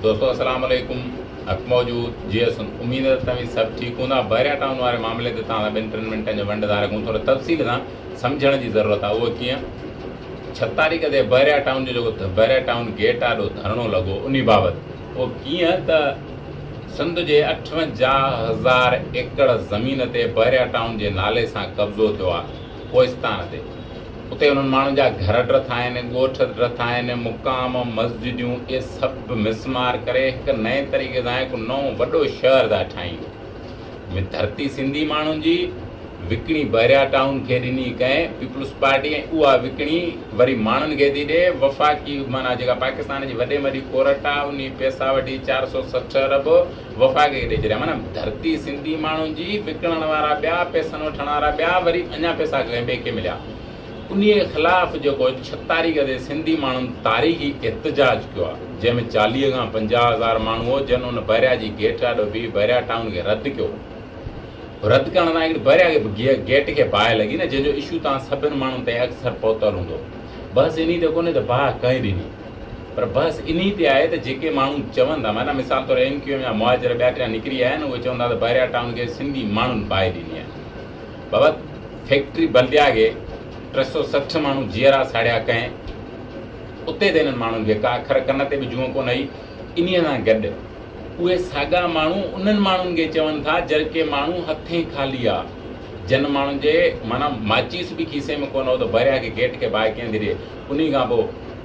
دوستو السلام عليڪم حق موجود جي ايس اميد ته توهين سڀ ٺيڪ هوندا بحريا ٽائون واري معاملي تي توهان سان ٻن ٽن منٽن جو ونڊ ڌار رکون ٿوري تفصيل سان سمجهڻ جي ضرورت آهي اهو ڪيئن ڇهه تاريخ تي بحريا ٽائون جو جيڪو بحريا ٽائون گيٽ آڏو ڌرڻو لڳو ان بابت اهو ڪيئن ته سنڌ جي اٺونجاهه هزار ايڪڙ زمين تي بحريا ٽائون جي نالي سان قبضو ٿيو آهي ڪوهستان تي. اتي انهن ماڻهن جا گهر ڊرٿ آهن، ڳوٺ ڊرٿ آهن، مقام، مسجديون اهي سڀ مسمار ڪري هڪ نئين طريقي سان هڪ نئون وڏو شهر ٿا ٺاهين. ۾ ڌرتي سنڌي ماڻهن جي وڪڻي بحريا ٽائون کي ڏني ڪنهن پيپلز پارٽي ۽ اها وڪڻي وري ماڻهن کي ٿي ڏي وفاقي معنيٰ جيڪا پاڪستان جي وڏي ۾ وڏي ڪورٽ آهي انهي پئسا وٺي چار سئو سٺ ارب وفاق کي ڏئي ڇڏيا معنيٰ ڌرتي سنڌي ماڻهن جي وڪڻڻ وارا ٻيا پئسن وٺڻ وارا ٻيا وري اڃا پئسا ڪنهن ٻئي کي مليا انهي خلاف جيڪو ڇهه تاريخ تي سنڌي ماڻهن تاريخي احتجاج ڪيو آ جنهن ۾ چاليهه کان پنجاهه هزار ماڻهو هو جن ان بحريا جي گيٽ آڏو بيهي بحريا ٽائون کي رد ڪيو هو رد ڪرڻ سان هڪڙي بحريا کي گيٽ کي باهه لڳي نه جنهن جو اشو توهان سڀن ماڻهن تائين اڪثر پهتل هوندو بحث انهي تي ڪونهي ته باهه ڪنهن ڏني پر بحث انهي تي آهي ته جيڪي ماڻهو چون ٿا معنيٰ مثال طور ايم ڪيو ايم جا مهاجر ٻيا ٽيا نڪري آيا آهن اهي چون ٿا ته بحريا ٽائون کي سنڌي ماڻهن باهه ڏني آهي بابت فيڪٽري بلديا کي ٽي سؤ سٺ ماڻهو جيئرا ساڙيا ڪنهن اتي ته انهن ماڻهن کي ڪا اکر ڪن تي به جونء ڪونه هئي انهي سان گڏ اهي ساڳا ماڻهو انهن ماڻهن کي چون ٿا جرڪي ماڻهو هٿين خالي آ جن ماڻهن جي معنيٰ ماچيس به کيسي ۾ ڪونه هو ته بحريا کي گيٽ کي باهه ڪيئن ٿي ڏي انهي کان پوء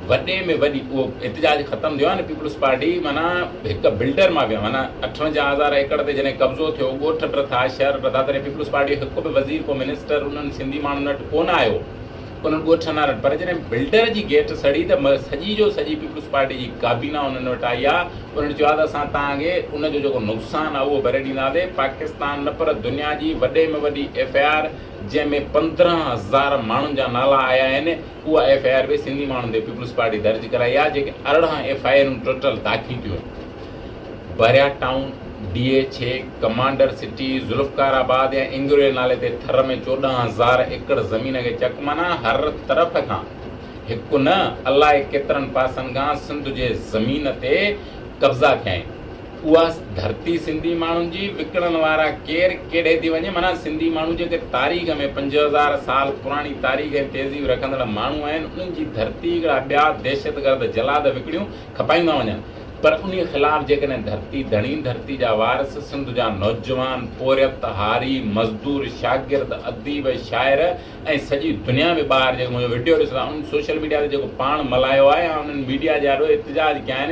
وڏي ۾ وڏي اهو احتجاج ختم ٿيو آهي نه پيپلز پارٽي معنيٰ هڪ بلڊر مافيا معنيٰ اٺونجاهه هزار ايڪڙ تي جڏهن قبضو ٿيو ڳوٺ ٽٿا شهر ٽٿا تڏهن پيپلز پارٽي هڪ به وزير ڪو منسٽر انهن سنڌي ماڻهن وٽ ڪونه آيو انهن ڳوٺن وارن پر جڏهن بلڊر جي گيٽ سڙي ته سڄي جو سڄي پيپلز پارٽي جي ڪابينا انهن وٽ آئي آهي انهن چيو آهي ته اسان توهان کي ان جو جيڪو نقصان آهي اهو ڀري ڏينداسي پاڪستان نه پر دنيا جي وڏي ۾ وڏي ايف اي آر جنهن ۾ پندرهن هزار ماڻهن جا نالا آيا آهن، اها ايف آء آر به سنڌي ماڻهن تي پيپلز پارٽي درج ڪرائي آهي، جيڪي ارڙهن ايف آء آرون ٽوٽل داخل ٿيون آهن، Bahria town, D H A, commander city, Zulfiqarabad ۽ انگريل نالي تي ٿر ۾ چوڏهن هزار ايڪڙ زمين کي چڪ معنيٰ هر طرف کان هڪ نه الائي ڪيترن پاسن کان سنڌ جي زمين تي قبضا ٿيا آهن، اها ڌرتي سنڌي ماڻهن جي، وڪڻڻ وارا ڪير، ڪهڙي ٿي وڃي؟ معنيٰ سنڌي ماڻهو جيڪي تاريخ ۾ پنج هزار سال پراڻي تاريخ ۽ تهذيب رکندڙ ماڻهو آهن، انهن جي ڌرتي هڪڙا ٻيا دهشتگرد جلاد وڪڻيون کپائيندا وڃن. پر انهي خلاف جيڪڏهن ڌرتي ڌڻي، ڌرتي جا وارث، سنڌ جا نوجوان، پورهيت، هاري، مزدور، شاگرد، اديب، شاعر ۽ سڄي دنيا به ٻاهر جيڪي منهنجو وڊيو ڏسندا، انهن سوشل ميڊيا تي جيڪو پاڻ ملهايو آهي يا انهن ميڊيا جي آڏو احتجاج ڪيا آهن،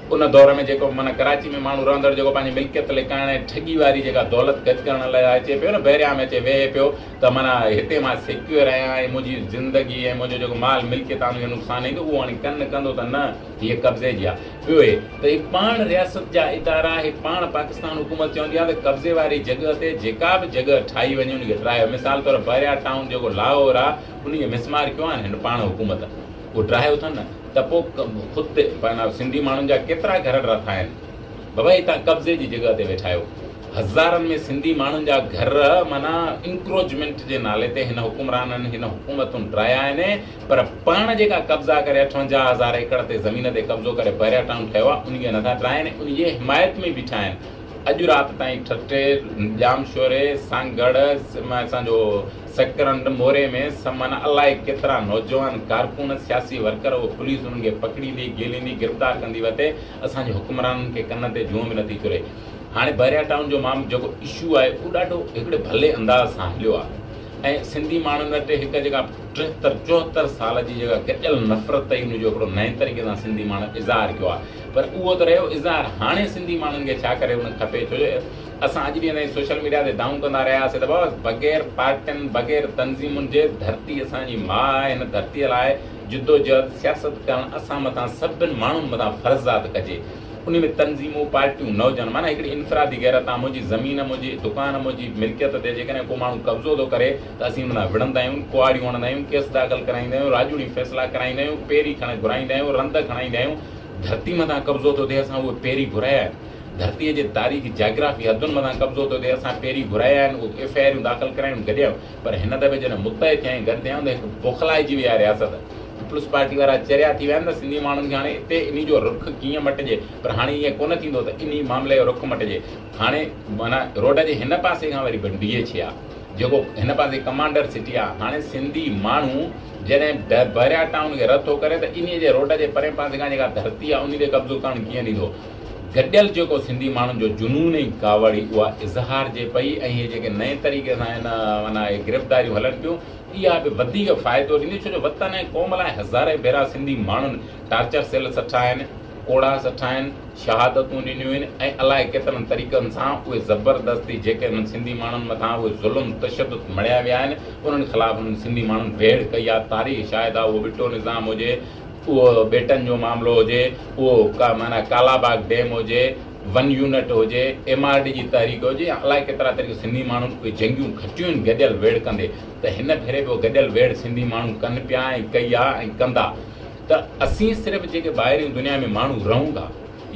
ان دور ۾ جيڪو معنيٰ ڪراچي ۾ ماڻهو رهندڙ جيڪو پنهنجي ملڪيت لڪائڻ ۽ ٺڳي واري جيڪا دولت گڏ ڪرڻ لاء اچي پيو نه بحريا ۾ اچي ويهي پيو ته معنيٰ هتي مان سيڪيور آهيان ۽ منهنجي زندگي ۽ منهنجو جيڪو مال ملڪيت آهن اهي نقصان ايندو اهو هاڻي ڪن ڪندو ته نه هيء قبضي جي آهي ٻيو هي ته هي پاڻ رياست جا ادارا هي پاڻ پاڪستان حڪومت چوندي آهي ته قبضي واري جڳهه تي جيڪا به جڳهه ٺاهي وڃي ان کي ٽراهيو مثال طور بحريا ٽائون جيڪو لاهور آهي انهي کي مسمار ڪيو آهن هن پاڻ حڪومت ڪو ڊاهيو اٿن ته پو خود تي پنهنجا سنڌي ماڻهن جا ڪيترا گهر ڊرٿا آهن بابا هي تان قبضي جي جڳهه تي ويٺا آهيو هزارن ۾ سنڌي ماڻهن جا گهر معنيٰ انڪروچمينٽ جي نالي تي هن حڪمرانن هن حڪومتن ڊرايا آهن پر پاڻ جيڪا قبضا ڪري اٺونجاهه هزار ايڪڙ تي زمين تي قبضو ڪري بحريا ٽائون ٺهيو آهي انهي نٿا ڊراين انهي جي حمايت ۾ بيٺا آهن اڄ رات تائين ٺٽي، ڄامشوري، سنگ ڳڙهه ۽ اسان جو سڪرنڊ موري ۾ سمن الائي ڪيترا نوجوان ڪارڪن، سياسي ورڪر اهو پوليس انهن کي پڪڙيندي، گهيليندي، گرفتار ڪندي وتي اسان جي حڪمرانن کي ڪن تي جونء به نٿي چري. هاڻي بحريا ٽائون جو معاملو جيڪو اشو آهي اهو ڏاڍو هڪڙي ڀلي انداز سان هليو آهي ۽ سنڌي ماڻهن وٽ هڪ جيڪا ٽيهتر چوهتر سال جي جيڪا گڏيل نفرت هئي ان جو هڪڙو نئين طريقي سان سنڌي ماڻهن اظهار ڪيو آهي. پر اهو ته رهيو اظهار هاڻي سنڌي ماڻهن کي ڇا ڪري هئڻ کپي ڇو جو اسان اڄ ڏينهن تائين سوشل ميڊيا تي دانهون ڪندا رهيا هئاسين ته بابا بغير پارٽين بغير تنظيمن جي ڌرتي اسان جي ماء آهي هن ڌرتي لاء جدوجهد سياست ڪرڻ اسان مٿان سڀن ماڻهن مٿان فرض آهي ته ڪجي انهي ۾ تنظيمون پارٽيون نه هجن معنيٰ هڪڙي انفرادي غيرت آهي منهنجي زمين منهنجي دڪان منهنجي ملڪيت تي جيڪڏهن ڪو ماڻهو قبضو ٿو ڪري ته اسين ان لاء وڙهندا آهيون ڪهاڙيون هڻندا آهيون ڪيس داخل ڪرائيندا آهيون راڄوڻي فيصلا ڪرائيندا آهيون پيري کڻي گهرائيندا آهيون رند کڻائيندا آهيون ڌرتي مٿان قبضو ٿو ٿئي اسان اهي پيري گهرايا آهن ڌرتي جي تاريخي جاگرافي حدن مٿان قبضو ٿو ٿئي اسان پيري گهرايا آهن اهي ايف آء آريون داخل ڪرايون گڏيم پر هن دفعي جڏهن متحد ٿيا ۽ گڏ ٿيا آهيون ته هڪ بوکلائجي وئي آهي رياست پيپلز پارٽي وارا چريا ٿي ويا آهن ته سنڌي ماڻهن کي هاڻي اتي انهي جو رخ ڪيئن مٽجي پر هاڻي ائين ڪونه ٿيندو ته انهي معاملي جو رخ مٽجي هاڻي معنيٰ روڊ جي هن پاسي کان وري ڀنڊيجي ڇي آهي جيڪو هن پاسي ڪمانڊر سٽي آهي هاڻي سنڌي ماڻهو جڏهن بحريا ٽائون کي رد ٿو ڪري ته انهيء جي روڊ جي پرئين پاسي کان جيڪا ڌرتي آهي انهي تي قبضو ڪرڻ ڪيئن ڏيندو؟ گڏيل جيڪو سنڌي ماڻهن جو جنون ۽ ڪاوڙي اها اظهارجي پئي ۽ هي جيڪي نئين طريقي سان هن معنيٰ اهي گرفتاريون هلن پيون اها به وڌيڪ فائدو ڏينديون ڇو جو وطن ۽ قوم لاء هزارين ڀيرا سنڌي ماڻهن ٽارچر سيل سٺا آهن. ڪوڙا سٺائين، شهادتون ڏنيون آهن ۽ الائي ڪيترن طريقن سان اهي زبردستي جيڪي انهن سنڌي ماڻهن مٿان اهي ظلم تشدد مڙهيا ويا آهن انهن خلاف انهن سنڌي ماڻهن ويڙهه ڪئي آهي تاريخ شاهد آهي اهو ٻٽو نظام هجي اهو ٻيٽن جو معاملو هجي اهو معنيٰ ڪالا باغ ڊيم هجي ون يونٽ هجي ايم آر ڊي جي تحريڪ هجي يا الائي ڪيترا طريقا سنڌي ماڻهن اهي جنگيون کٽيون آهن گڏيل ويڙهه ڪندي ته هن ڀيري به گڏيل ويڙهه سنڌي ماڻهن ڪن پيا ۽ ڪئي آهي ۽ ڪندا ته اسين صرف جيڪي ٻاهرين دنيا ۾ ماڻهو رهون ٿا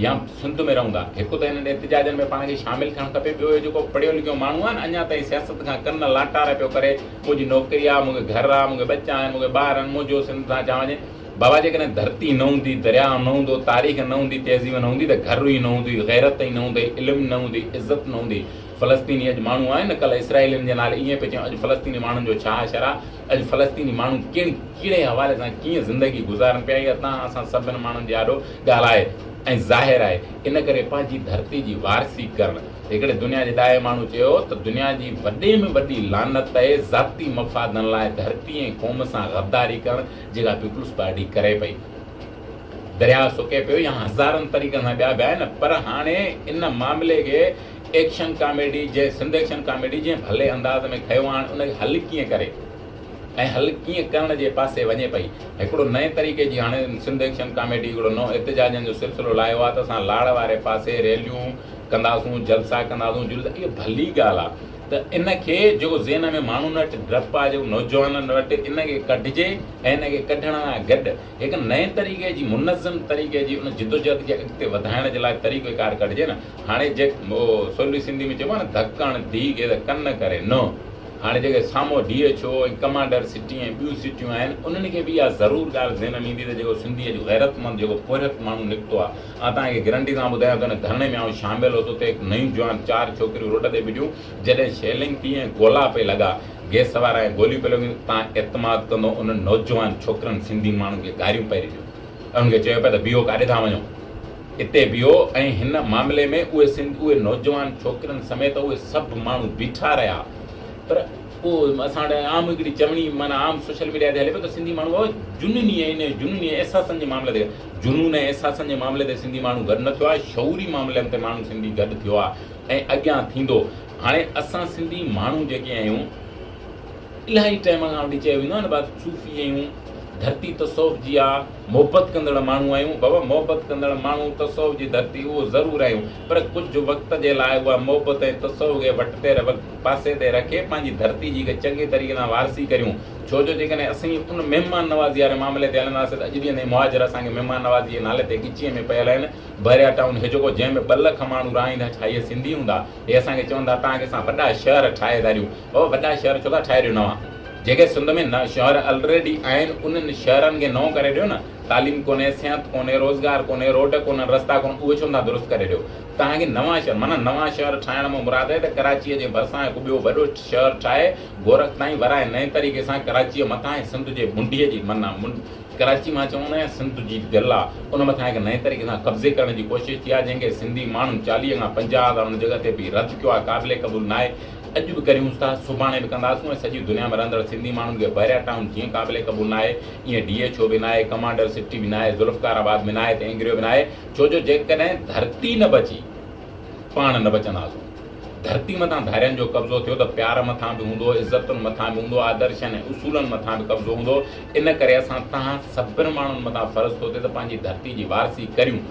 يا سنڌ ۾ رهون ٿا هڪ ته انهن احتجاجن ۾ پاڻ کي شامل ٿيڻ کپي ٻيو هي جيڪو پڙهيو لکيو ماڻهو آهي نه اڃا تائين سياست کان ڪن لاٽار پيو ڪري منهنجي نوڪري آهي مونکي گهر آهي مونکي ٻچا آهن مونکي ٻار آهن منهنجو سنڌ سان چا وڃي بابا جيڪڏهن ڌرتي نه هوندي درياء نه هوندو تاريخ نه هوندي تهذيب نه هوندي ته گهر ئي نه هوندي غيرت ئي نه هوندي علم نه هوندي عزت نه هوندي فلسطيني اڄ ماڻهو آهن نه ڪلهه اسرائيلين جي نالي ائين پئي چيون اڄ فلسطيني ماڻهن جو ڇا حشر آهي اڄ فلسطيني ماڻهو ڪهڙي ڪهڙي حوالي سان ڪيئن زندگي گذارن پيا اها تان اسان سڀن ماڻهن جي آڏو ڳالهه آهي ۽ ظاهر آهي ان ڪري پنهنجي ڌرتي جي وارثي ڪرڻ هڪڙي دنيا جي ڏاهي ماڻهو چيو ته دنيا جي وڏي ۾ وڏي لعنت اهي ذاتي مفادن لاء ڌرتي ۽ قوم سان غداري ڪرڻ جيڪا پيپلز پارٽي ڪري پئي درياء سڪي پيو يا هزارن طريقن سان ٻيا به آهن پر هاڻي ان معاملي کي ايڪشن ڪاميڊي جي سنڌ ايڪشن ڪاميڊي جنهن ڀلي انداز ۾ کنيو آڻ ان کي حل ڪيئن ڪري ۽ حل ڪيئن ڪرڻ جي پاسي وڃي پئي هڪڙو نئين طريقي جي هاڻي سنڌ ايڪشن ڪاميڊي هڪڙو نئون احتجاجن جو سلسلو لاهيو آهي ته اسان لاڙ واري پاسي ريليون ڪنداسون جلسا ڪنداسون جلوس اهو ڀلي ڳالهه آهي ته ان کي جيڪو ذهن ۾ ماڻهن وٽ ڊپ آهي جيڪو نوجوانن وٽ ان کي ڪڍجي ۽ ان کي ڪڍڻ سان گڏ هڪ نئين طريقي جي منظم طريقي جي ان جدوجهد کي اڳتي وڌائڻ جي لاء طريقه ڪار ڪڍجي نه هاڻي جيڪ او سولي سنڌي ۾ چئبو آهي نه ڌڪڻ ڌي گير ڪن ڪري نه هاڻي جيڪي سامهون D H A ۽ commander city ۽ ٻيون سٽيون آهن انهن کي به اها ضرور ڳالهه ذهن ۾ ايندي ته جيڪو سنڌي اڄ غيرتمند جيڪو پورهيت ماڻهو نڪتو آهي آئون توهان کي گرنٽي سان ٻڌايان ٿو ان ڌرڻي ۾ آئون شامل هوس اتي هڪ نيون جوان چار ڇوڪريون روڊ تي ٻيٺيون جڏهن شيلنگ ٿي ۽ گولا پئي لڳا گيس وارا ۽ گوليون پئي لڳيون توهان اعتماد ڪندو انهن نوجوان ڇوڪرن سنڌي ماڻهن کي گاريون پئي ڏنيون انهن کي چيو پئي ته بيهو ڪاڏي ٿا وڃو اتي ويو ۽ هن معاملي ۾ اهي سنڌ اهي نوجوان ڇوڪرين سميت اهي سڀ ماڻهو بيٺا رهيا پر پوء اسان وٽ عام هڪڙي چوڻي معنيٰ عام سوشل ميڊيا تي هلي پيو ته سنڌي ماڻهو جنوني ۽ جنوني ۽ احساسن جي معاملي تي جنون ۽ احساسن جي معاملي تي سنڌي ماڻهو گڏ نه ٿيو آهي شعوري معاملن تي ماڻهو سنڌي گڏ ٿيو آهي ۽ اڳيان ٿيندو هاڻي اسان سنڌي ماڻهو جيڪي آهيون الاهي ٽائيم کان وٺي چيو ويندو آهي نه بات صوفي آهيون ڌرتي تصوف جي آهي محبت ڪندڙ ماڻهو آهيون بابا محبت ڪندڙ ماڻهو تصوف جي ڌرتي اهو ضرور آهيون پر ڪجهه وقت جي لاء اها محبت ۽ تصوف کي وٽ تير وقت پاسي تي رکي پنهنجي ڌرتي جي هڪ چڱي طريقي سان وارثي ڪريون ڇو جو جيڪڏهن اسين ان مهمان نوازي واري معاملي تي هلنداسين ته اڄ ڏينهن تائين مهاجر اسان کي مهمان نوازي جي نالي تي ڳچيء ۾ پيل آهن بحريا ٽائون هجڪو جنهن ۾ ٻه لک ماڻهو رهائيندا ڇا اهي سنڌي هوندا اهي اسان کي چوندا توهان کي اسان وڏا شهر ٺاهي ڌاريون اهو وڏا شهر ڇو ٿا ٺاهي ڏيو نوان جيڪي سنڌ ۾ نه شهر الريڊي آهن انهن شهرن کي نئون ڪري ڏيو نه تعليم ڪونهي صحت ڪونهي روزگار ڪونهي روڊ ڪونهن رستا ڪونهن اهي ڇو نٿا درست ڪري ڏيو توهان کي نوان شهر معنيٰ نوان شهر ٺاهڻ مان مراد آهي ته ڪراچي جي ڀرسان هڪ ٻيو وڏو شهر ٺاهي گورک تائين ورائي نئين طريقي سان ڪراچي مٿان ۽ سنڌ جي منڊي جي معنيٰ ڪراچي مان چون نه سنڌ جي دل آ ان مٿان هڪ نئين طريقي سان قبضي ڪرڻ جي ڪوشش ٿي آهي جنهن کي سنڌي ماڻهن چاليهه کان پنجاهه هزار ان جڳهه تي به رد ڪيو آهي قابل قبول ناهي اڄ به ڪريونس ٿا سڀاڻي به ڪنداسون ۽ سڄي دنيا ۾ رهندڙ سنڌي ماڻهن کي بحريا ٽائون جيئن قابل قبول ناهي ايئن ڊي ايڇ او به ناهي ڪمانڊر سٽي به ناهي ذوالفقار آباد ۾ ناهي ته اينگريو به ناهي ڇو جو جيڪڏهن ڌرتي نه بچي پاڻ نه بچنداسون ڌرتي مٿان ڌارين جو قبضو ٿيو ته پيار مٿان به هوندو عزتن مٿان به هوندو آدرشن ۽ اصولن مٿان به قبضو هوندو ان ڪري اسان توهان سڀن ماڻهن مٿان فرض ٿو ٿئي ته پنهنجي ڌرتي جي وارثي ڪريون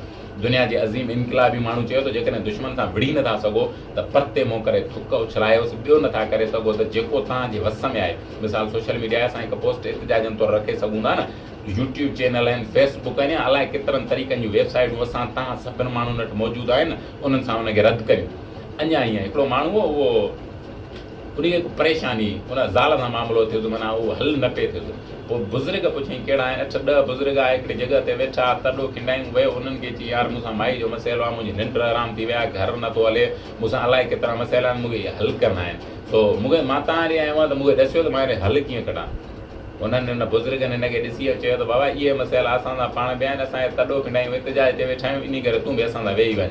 دنيا جي عظيم انقلابي ماڻهو چيو ته جيڪڏهن دشمن سان وڙهي نٿا سگهو ته پرتي منهن ڪري ٿڪ اڇلايوس، ٻيو نٿا ڪري سگهو ته جيڪو توهان جي وس ۾ آهي. مثال سوشل ميڊيا آهي، اسان هڪ پوسٽ احتجاجن طور رکي سگهون ٿا نه. يوٽيوب چينل آهن، فيس بڪ آهن يا الائي ڪيترن طريقن جون ويب سائيٽون اسان توهان سڀن ماڻهن وٽ موجود آهن، انهن سان ان کي رد ڪريون. اڃا هينئن هڪڙو ماڻهو هو، اهو. انهيء پريشانيء ان زال سان معاملو ٿيس، معنيٰ اهو حل نه پئي ٿيس. پوء بزرگ پڇيائين، ڪهڙا آهن؟ اٺ ڏهه بزرگ آيا، هڪڙي جڳهه تي ويٺا، تڏو کنڊائيون ويو. انهن کي چيائين، يار! مون سان مائي جو مسئلو آهي، منهنجي ننڊ حرام ٿي وئي آهي، گهر نه ٿو هلي، مون سان الائي ڪيترا مسئلا آهن، مون کي اهي حل ڪرڻا آهن. سو مون کي مان تان هلي آيو آهيان ته مون کي ڏسيو ته مان هيڏي حل ڪيئن ڪڍان؟ انهن، ان بزرگن، هن کي ڏسي ۽ چيو ته بابا! اهي مسئلا اسان سان پاڻ به آهن، اسان اهي تڏو کنڊائيون احتجاج تي ويٺا آهيون، انهيء ڪري تون به اسان سان ويهي وڃ.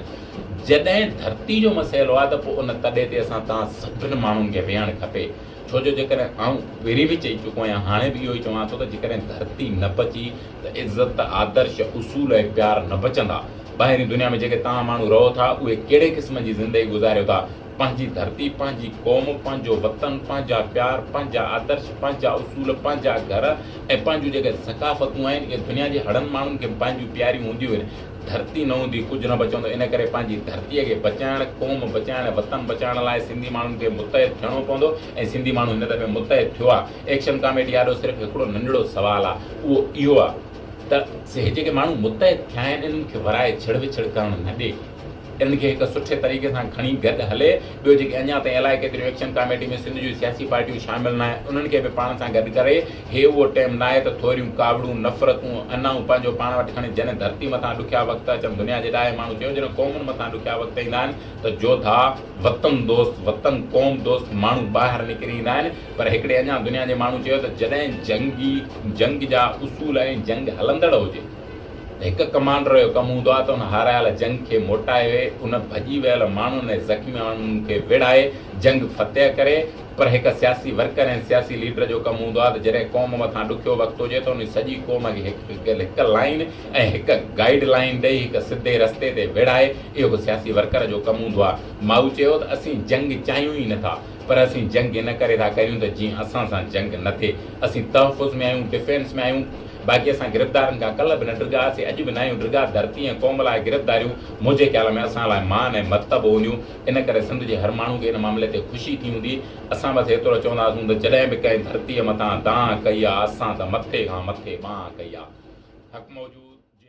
جڏهن ڌرتي جو مسئلو آهي ته پوء ان تڏي تي اسان توهان سڀني ماڻهن کي ويهڻ کپي ڇو جو جيڪڏهن آئون پهرين به چئي چڪو آهيان هاڻي به اهو ئي چوان ٿو ته جيڪڏهن ڌرتي نه بچي ته عزت، آدرش، اصول ۽ پيار نه بچندا. ٻاهرين دنيا ۾ جيڪي توهان ماڻهو رهو ٿا اهي ڪهڙي قسم جي زندگي گذاريو ٿا؟ پنهنجي ڌرتي، پنهنجي قوم، پنهنجو وطن، پنهنجا پيار، پنهنجا آدرش، پنهنجا اصول، پنهنجا گهر ۽ پنهنجون جيڪي ثقافتون آهن اهي دنيا جي هڙن ماڻهن کي به پنهنجون پياريون هونديون آهن. ڌرتي نه هوندي ڪجهه نه بچندو ان ڪري پنهنجي ڌرتي کي بچائڻ، قوم بچائڻ ۽ وطن بچائڻ لاء سنڌي ماڻهن کي متحد ٿيڻو پوندو ۽ سنڌي ماڻهو هن دفعي متحد ٿيو آ، ايڪشن ڪاميٽي آڏو صرف هڪڙو ننڍڙو سوال آ اهو اهو آ ته هي جيڪي ماڻهو متحد ٿيا آهن انهن کي ورائي ڇڙ وڇڙ ڪرڻ نه ڏي انهن کي هڪ سٺي طريقي سان کڻي گڏ هلي ٻيو جيڪي اڃا تائين الائي ڪيتريون ايڪشن ڪاميٽي ۾ سنڌ جون سياسي پارٽيون شامل نه آهن انهن کي به پاڻ سان گڏ ڪري هي اهو ٽيم ناهي ته ٿوريون ڪاوڙون، نفرتون، انائون پنهنجو پاڻ وٽ کڻي جڏهن ڌرتي مٿان ڏکيا وقت اچن دنيا جي ڏاهي ماڻهو چيو جڏهن قومن مٿان ڏکيا وقت ايندا آهن ته جوڌا، وطن دوست، وطن قوم دوست ماڻهو ٻاهر نڪري ايندا آهن پر هڪڙي اڃا دنيا جي ماڻهو چيو ته جڏهن جنگي جنگ جا اصول ۽ جنگ هلندڙ هجي ته هڪ ڪمانڊر جو ڪم هوندو آهي ته ان هارايل جنگ کي موٽائي ان ڀڄي ويل ماڻهن ۽ زخمي ماڻهن کي ويڙهائي جنگ فتح ڪري پر هڪ سياسي ورڪر ۽ سياسي ليڊر جو ڪم هوندو آهي ته جڏهن قوم مٿان ڏکيو وقت هجي ته انهي سڄي قوم کي هڪ لائين ۽ هڪ گائيڊ لائين ڏئي هڪ سڌي رستي تي ويڙهائي اهو به سياسي ورڪر جو ڪم هوندو آهي. مائو چيو ته اسين جنگ چاهيون ئي نٿا پر اسين جنگ ان ڪري ٿا ڪريون ته جيئن اسان سان جنگ نه ٿئي. اسين تحفظ ۾ آهيون، ڊفينس ۾ آهيون باقي اسان گرفتارن کان ڪلهه به نه ڊگهاسين اڄ به ناهيون ڊگها، ڌرتي ۽ قوم لاء گرفتاريون منهنجي خيال ۾ اسان لاء مان ۽ مرتبو هونديون. ان ڪري سنڌ جي هر ماڻهو کي ان معاملي تي خوشي ٿي هوندي. اسان بس ايترو چونداسون ته جڏهن به ڪنهن ڌرتيء مٿان دانهن ڪئي آ، اسان ته مٿي کان مٿي بانهن ڪئي آ. حق موجود جي.